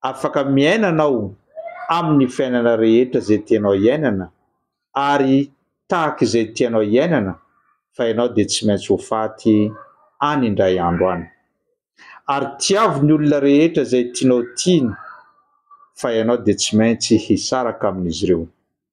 afaka miaina anao amin'ny fiainana rehetra izay tianao hiainana ary tahaka izay tianao hiainana fa ianao dia tsy maintsy ho faty any indray andro any. Ary tiavo ny olona rehetra izay tianao tiana fa ianao dia tsy maintsy hisaraka amin'izy ireo.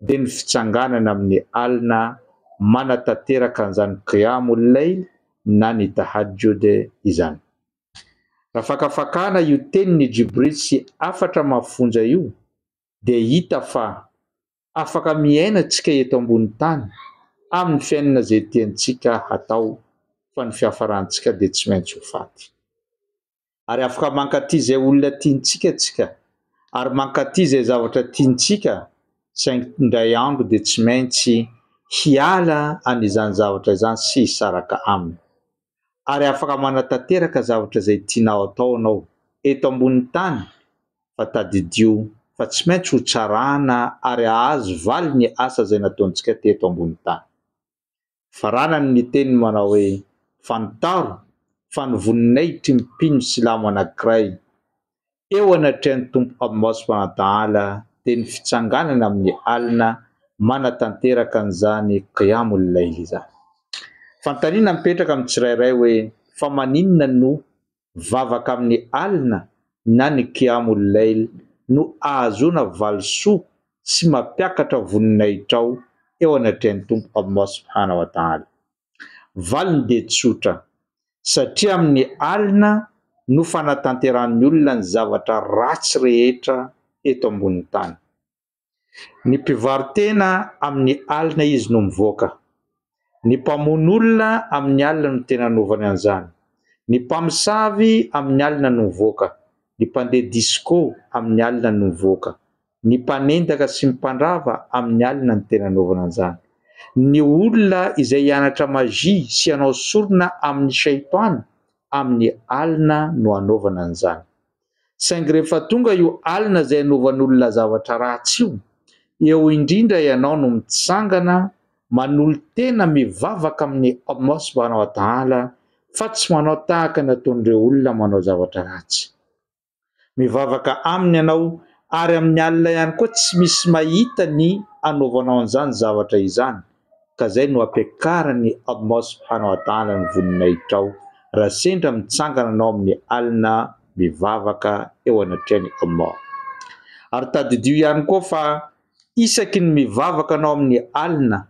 dia ny fitsanganana amin'ny alina manatanteraka an'izany Qiyâmul-Layl na ny Tahajjud izany. Raha fakafakana io tenin'i Jibril sy hafatra mafonja io dia hita fa afaka miaina antsika eto ambony tany amin'ny fiainana izay tiantsika hatao fa ny fiafarantsika dia tsy maintsy ho faty. ary afaka mankaty izay olona tiantsika tsika ary mankaty izay zavatra tiantsika saingy indray andro dia tsy maintsy hiala any izany zavatra izany sy hisaraka aminy ary afaka manatanteraka zavatra izay tianao atao anao eto ambon'ny tany fa tadidio fa tsy maintsy ho tsarana ary ahazo valy ny asa izay nataontsika teto ambon'ny tany Faranany ny teniny manao hoe, Fantaro fa ny voninahitry ny mpino silamo anankiray eo anatrehan'ny Tompo Allah subhanahu wa ta'ala dia ny fitsanganana amin'ny alina manatanteraka an'izany Qiyamul Layl izany. Fanontaniana mipetraka amin'ny tsirairay hoe, fa maninona no vavaka amin'ny alina na ny Qiyamul Layl no ahazoana valisoa sy mampiakatra voninahitrao eo anatrehan'ny Tompo Allah Subhanahu wa Ta'ala. Valiny dia tsotra, satria amin'ny alina no fanatanterahan'ny olona ny zavatra ratsy rehetra eto ambonin'ny tany. Ny mpivaro-tena amin'ny alina izy no mivoaka. Ny mpamono olona amin'ny alina no tena anaovany an'izany. Ny mpamosavy amin'ny alina no mivoaka. Ny mpandeha disco amin'ny alina no mivoaka. Ny mpanendaka sy ny mpandrava amin'ny alina no tena anaovany an'izany. Ny olona izay hianatra magie sy hanao sorona amin'ny shaitwany amin'ny alina no anaovany an'izany. Saingy rehefa tonga io alina izay hanovan'olona zavatra ratsy io, eo indrindra ianao no mitsangana manolo-tena mivavaka amin'i Allah subhanahu wa ta'ala fa tsy manao tahaka ny ataon'ireo olona manao zavatra ratsy. Mivavaka Aminy ianao ary amin'i Allah ihany koa tsy misy mahita ny anaovanao an'izany zavatra izany. ka zay no ampiakarany Admos hanao adala ny voninahitrao raha sendra mitsangana anao amin'ny alina mivavaka eo anatrehan'i Allah. Ary tadidio ihany koa fa isaky ny mivavaka anao amin'ny alina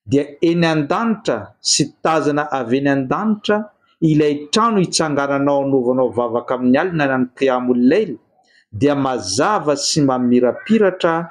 dia eny an-danitra sy tazana avy eny an-danitra ilay trano itsangananao anovanao vavaka amin'ny alina na ny Qiyamul Layl dia mazava sy mamirapiratra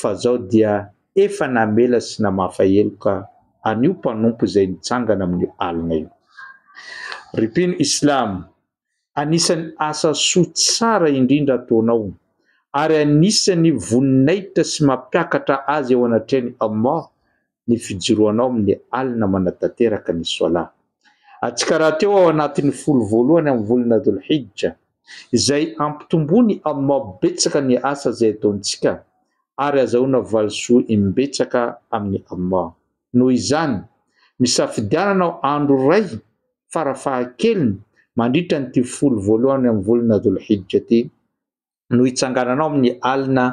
fa zao dia efa namela sy namafa heloka an'io mpanompo izay nitsangana amin'io alina io. Ry mpino islam, anisan'ny asa soa tsara indrindra ataonao ary anisan'ny voninahitra sy mampiakatra azy eo anatrehan'i Allah ny fijoroanao amin'ny alina manatanteraka ny Swala. Atsikaraha teo ao anatin'ny folo voalohany amin'ny volana Dhul Hijja, izay ampitomboin'i Allah betsaka ny asa izay ataontsika ary azahoana valisoa imbetsaka amin'i Allah. Noho izany, misafidiananao andro iray farafahakeliny mandritra an'ity folo voalohany amin'ny volana Dhul Hijja ity, no hitsangananao amin'ny alina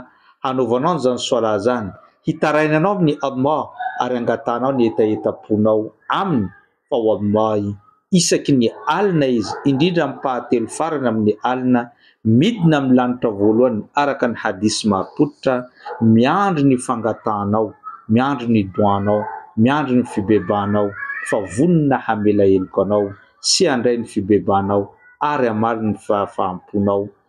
hanaovanao an'izany Swalah izany, hitarainanao amin'i Allah ary hangatahanao ny hetahetam-ponao Aminy fa wallahi isaky ny alina Izy, indrindra amin'ny mpaha-telo farany amin'ny alina, midina amin'ny lanitra voalohany araka ny hadith marim-pototra, miandry ny fangatahanao, miandry ny doanao, miandry ny fibebahanao fa vonona hamela heloka anao sy handray ny fibebahanao ary hamaly ny fahafaham-ponao